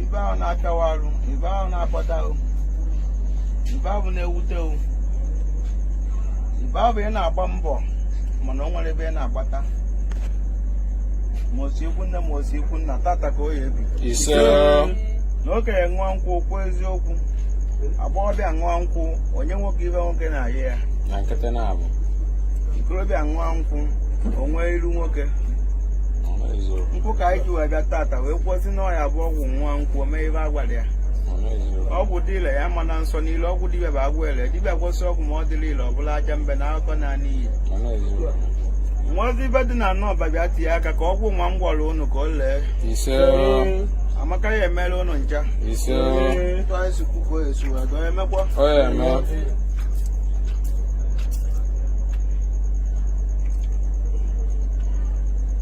ive ahụ na-akawa arụ ive ahụ na-akpata ahụ ive ahụ na-ewute ahụ ive ahụ ị na-agba mbọ mana o nwere ebe ị na-agbata ma o si ikwu nne ma o si ikwu nna tata ka ọ ya-ebi ise na okenye ṅụọ nkwụ kwuo eziokwu agbọghọbịa ṅụọ nkwụ o nye nwoke ive nwoke na-ayọ ya na nkịtị na-abụ ikorobịa ṅụọ nkwụ o nwee iru nwoke ọ na-ezo nkwụ ka anyị ji wee bịa tata wee kwụsị na ọ ya-abụ ọgwụ nwa nkwụ mee ive a gwara ya ọgwụ dị ile ya ma na nsọ niile ọgwụ dibịa bụ agwọ ile dibịa gwọsị ọgwụ ma ọ dịrọ ile ọ bụrụ aja mbe na akụkọ na n'iyi nwazi ibe dị na anọ ọba bịa tinye aka ka ọgwụ nwa m gwara ụnụ ka o lee amaka ya emere ụnụ ncha ntụ anyị si kwuo ka o esi wee dọọ emekwa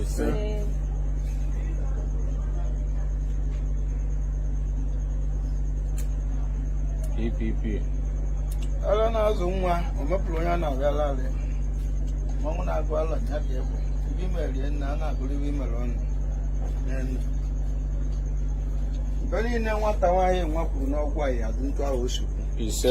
ise PPP ala na-azụ nwa o mepụrụ onye a na-agala alị mmanwụ na-agụ ala ya ka egbe ive i merie nna a na-agụrụ ive i mere ọnụ n'elu mgbe niile nwata nwaanyị nwa kwuru n'ọgwụ a ya-adị ntụ ahụ o si kwu ise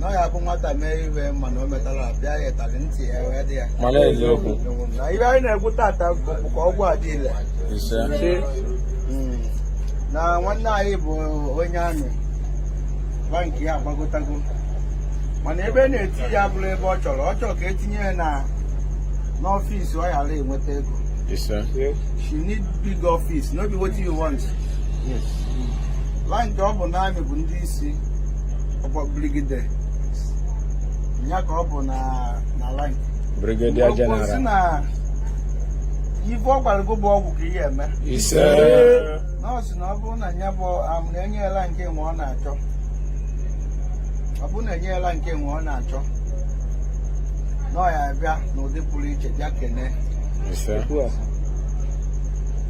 na ọ ya bụ nwata mee ive mana o metara pịa ya ịtali ntị ya wee dị ya mana eziokwu na ihe anyị na-ekwu tata bụ ka ọgwụ a dị ile ise Mm. na nwanne anyị bụ onye amị rank ya agbagotago mana ebe a na-etinye ya abụrọ ebe ọ chọrọ ọ chọrọ ka e tinye ya na n'ọfịs ọ ga na-enweta ego ise she need big office no be wetin you want rank ọ bụ n'amị bụ ndị isi ọkwa brigadier ya ka ọ bụ na na rank brigadier o kwusi general na ife ọ gwara gị bụ ọgwụ ka ihe eme ise na ọ sị na ọ bụrụ na ya bụ am na e nye rank nwa ọ na-achọ ọ bụrụ na e nye rank nwa ọ na-achọ na ọ ya-abịa n'ụdị pụrụ iche bịa kene ise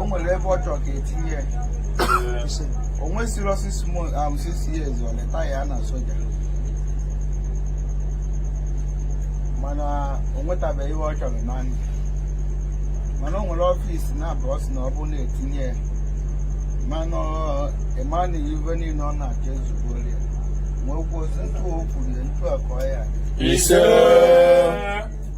o nwere ebe ọ chọrọ ka e tinye ya o nwesịrị six months um, six years ọ retire na soja mana o nwetabeghị ihe ọ chọrọ na ndụ mana o nwere ọfịs na-abụ ọ sị na ọ bụ na-etinye ya mana ịma na ive niile ọ na-achọ ezugbo ya wee kwuo sị ntụ o kwuru ya ntụ a ka ọ ya-adị. ise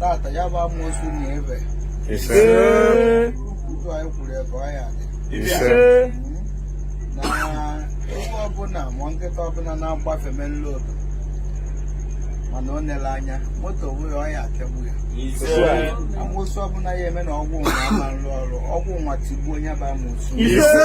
tata ya bụ amoosu na ebe ise ụtụ anyị kwuru ebe ọ ya adị ise na ebe ọbụla ma nkịta ọbụla na-agbafe main road mana o nele anya moto wee ọ ya akụgbu ya amoosu ọbụla ya eme na ọgwụ nwa ama nrụ ọrụ ọgwụ nwa tigbuo onye bụ amoosu ise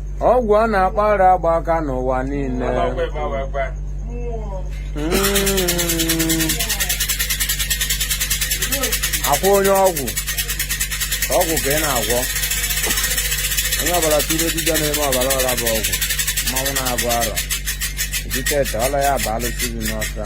ọgwụ a na-akpa ara agba aka n'ụwa niile hmm. akwa onye ọgwụ ọgwụ ka ị na-agwọ onye ọbala tụrụ dibịa na-eme ọbala ọla bụ ọgwụ mmanwụ na-agụ arọ eji ete ọla ya bụ alụsị dị n'ọsa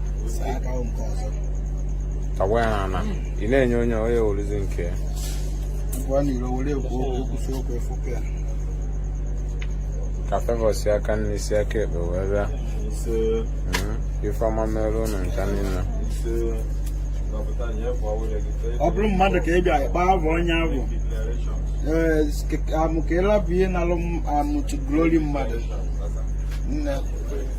tagwa ya n'ala ị na-enye onye onye orizi nke ya ka favour si aka nni si aka ekpe wee bịa Mhm. ife ọma mere unu ncha niile ọ bụrụ mmadụ ka ị bịa kpaa avọ onye avọ ee amụ ka ịlabụ ihe nalụ amụtụ glory mmadụ nne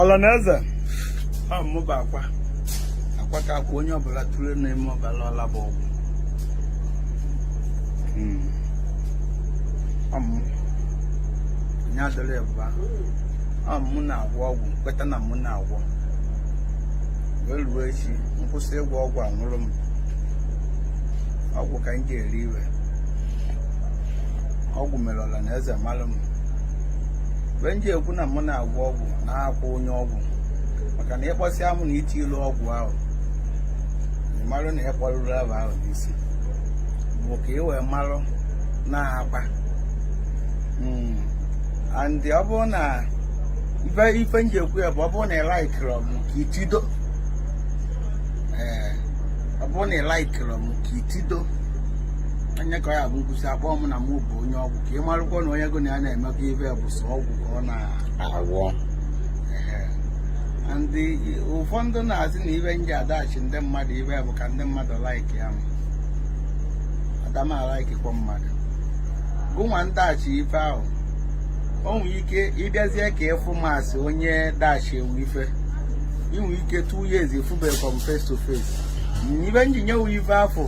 ọla na eze ọ mụ bụ akwa akwa ka akwa onye ọbụla tụrụ na-eme ọbala ọla bụ ọgwụ hmm. ọ mụ onye adịrị ebụba ọ mụ na-agwọ ọgwụ kweta na mụ na-agwọ wee ruo echi m kwụsị ịgwọ ọgwụ anwụrụ m ọgwụ ka m ji eri ife ọgwụ mere ọla na eze malụ m ife m ji ekwu na mụ na-agwọ ọgwụ na akwa onye ọgwụ maka na ị kpọsịa mụ na iti ilu ọgwụ ahụ marụ na ịkpọrụrụ ebe ahụ n'isi bụ ka ị wee marụ na-akpa hmm. and ọ bụrụ na ife m ji ekwu ya bụ ọ bụrụ na ị laikiri m ka itido ee ọ bụrụ na ị laikiri m ka itido onye ka ọ ya bụ nkwụsị akpọọ m na mụ bụ onye ọgwụ ka ị marụkwa na onye gụ na ya na-emekọ ife bụ sọ ọgwụ ka ọ na-agwọ ndị ụfọdụ na-asị na ife m ji adachi ndị mmadụ ife bụ ka ndị mmadụ laiki ya ada m alaikikwa mmadụ gụnwa m dachi ife ahụ o nwere ike ị bịazie ka ị fụ m asị onye dachie wu ife i nwe ike two years ị fubekwa m face to face ife m ji nye wu ife afụ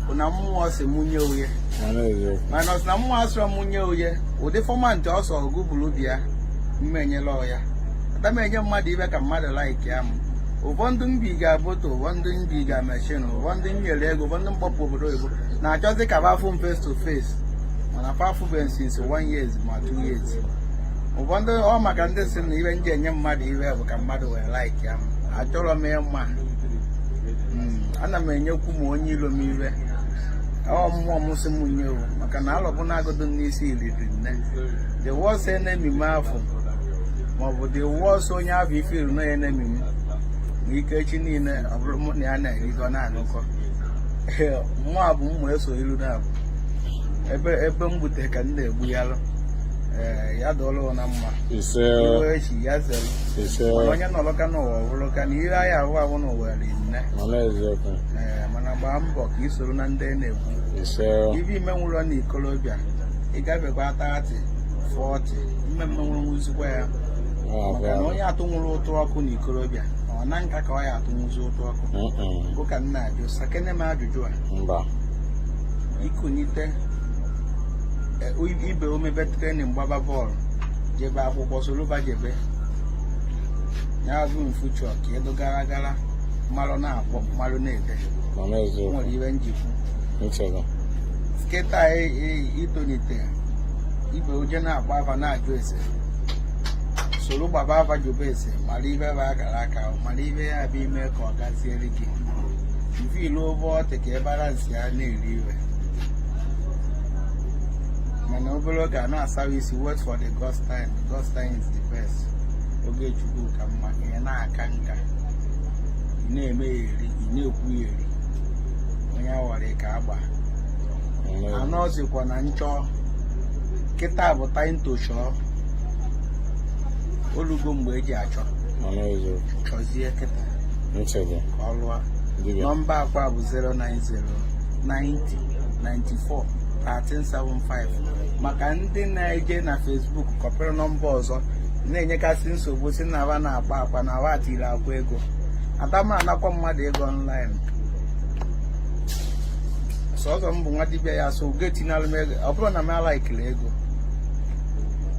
bụ na mmụọ sị mụ nye wu ya minus na mmụọ asịrọ m nye oye ụdị fọmantị ọ sọ gụbụrụ bịa mmenyela ọya ada m enye mmadụ ife ka mmadụ laiki ya m ụfọdụ mbi ga-aboto ụfọdụ mbi ga-emechin ụfọdụ m nyere ego ụfọdụ m kpọpụ obodo oyibo na-achọzi ka fa fụ m face to face mana fa afụbeghị since one years ma two years ụfọdụ ọ maka ndị sị na ife m ji enye mmadụ ife bụ ka mmadụ wee laiki ya m achọrọ m ịma ana m enyekwu m onye ilo m ife ọ mmụọ ọ mmụọ sị m nye o maka na alọbụ na-agụdụ n'isi eri ri nne the worst enemy m afọ maọbụ the worst onye afọ ife iru na enemy m ma ike echi niile ọ bụrụ mụ na ya na-erikọ na-anụkọ nwa bụ mma eso ilu na abụ ebe ebe m gbute ka m na-egbu ya lụ ee ya dụọlụ na mma ise iwe echi ya zere ise mana onye nọrọ ka n'ụwa ọ bụrụ ka na ihe anyị ahụ ahụ n'ụwa ri nne mana eziokwu ee mana gbaa mbọ ka ị soro na ndị na-ekwu ife i menwurọ na ikolobịa ị gabekwa 30 40 mme mme nwụrụ nwuzikwa ya maka na onye atụnwurọ ụtụ ọkụ na ikolobịa ọ na nka ka ọ ya-atụnwuzi ụtụ ọkụ bụ ka m na-ajụ sakene m ajụjụ a i kunite ibe u emebe trenin gbaba bọọlụ jebe akwụkwọ soro fa jebe ya bụ mfuchọ ka ị dụ gara gara malụ na-akpọ malụ na-ede nwere ife m ji ekwu kịta e, e, i tolite ibe u eje na-agba afa na-ajụ ese soro gbaba afa jụba ese mara ife bụ akara aka mara ife ya bụ i mee ka ọ gaziere gị mfe i luo ebe ọ dị ka ị bara nsi ya na-eri ife mana obere oge a na-asawa isi wait for the God's time God's time is the best oge Chukwu ka mma ihe na-aka nka ị na-eme ya eri ị na-ekwu ya eri onye awara ka agba anọzikwa na nchọ kịta bụ time to chọọ olugo mgbe e ji achọ chọzie kịta ka ọ lụọ nọmba Akwa bụ 090 90 94 1375 maka ndị na-eje na Facebook kọpịrị nọmba ọzọ na-enyekasị nsogbu sị na fa na-akpọ Akwa na fa tiiri Akwa ego ada m anakwa mmadụ ego online sọzọ m bụ nwa dibịa ya so ị ga-etinyelụ m ego ọ bụrọ na m alaikirọ ego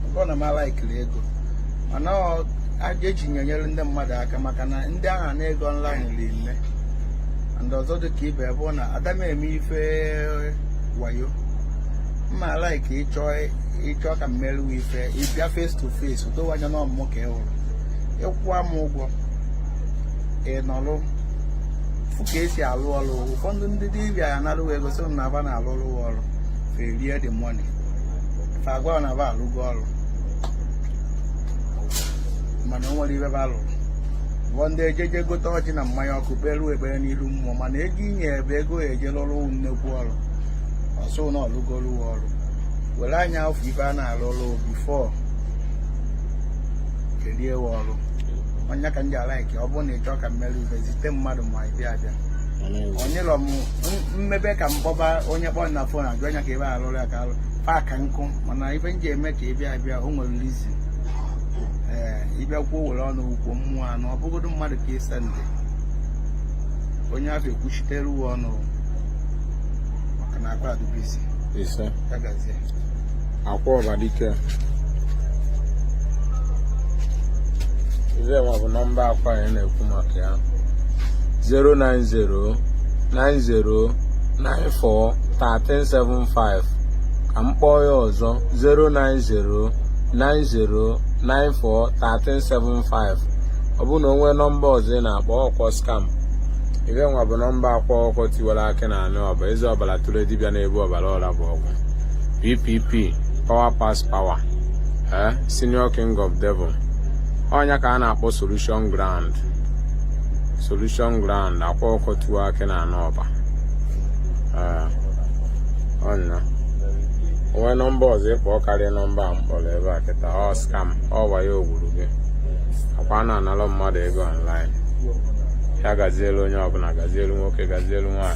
ọ bụrọ na m alaikirọ ego mana ọ- a- eji nyere ndị mmadụ aka maka na ndị ahụ na-ana ego online ri nne and ọzọ dị ka ibe bụ na ada m eme ife wayo m ma alaiki ịchọ ị chọọ ka m meere ị ife ị bịa face to face o dowe ị anya na ọ mụ mụ ka ị hụrụ ị kwụwa m ụgwọ ị nọrụ fụ ka e si alụ ọrụ ụfọdụ ndị dibịa ya narụ ị ego sị na fa na-alụrụ ị ọrụ fa erie the money fa agwa na fa alụgo ọrụ mana o nwerọ ife fa lụrụ bụ ndị ejeje gote ọjị na mmanya ọkụ kpeere ekpere n'iru mmụọ mana ego i nye bụ ego e ji alụ ọrụ nnekwu ọrụ ọ sị na ọ lụgolu ọrụ were anya afụ ife a na-alụ ọrụ before kedu ewe ọrụ ọ nya ka m ji alike ọ bụrụ na ị chọọ ka m meere ị ife zite mmadụ ma ị bịa abịa onyelọ m m mebe ka m kpọba onye kpọrọ na fon ajụ anya ka ebe alụrụ ya ka alụ paaka nkụ mana ife m ji eme ka ị bịa abịa o nwere reason ee ị bịa kwuo were ọnụ kwuo mmụọ anụ ọ bụgodu mmadụ ka ị send onye afụ ekwuchiteru ị ọnụ maka na Akwa dị busy ise ya gazie Akwa Ọba dike ife nwa bụ nọmba Akwa anyị na-ekwu maka ya 09090941375 ka m kpọọ ya ọzọ 09090941375 ọ bụrụ na o nwee nọmba ọzọ ị na-akpọ ọ kwa skam ife nwa bụ nọmba Akwa Ọkụkọ Tiwara Akị na anị Ọba eze ọbara tụrụ dibịa na-ebu ọbara ọra bụ ọgwụ ppp power pass power ee eh, senior king of devil ọ nya ka a na-akpọ solution ground solution ground Akwa Ọkụkọ Tiwa Akị na anị Ọba ee eh. ọ na o nwee nọmba ọzọ ị kpọ karịa nọmba a m kpọrọ ebe a kịta ọ skam ọ wayo o gwuru gị Akwa ana anarụ mmadụ ego online ya gazielu onye ọbụla gazielu nwoke gazielu nwaanyị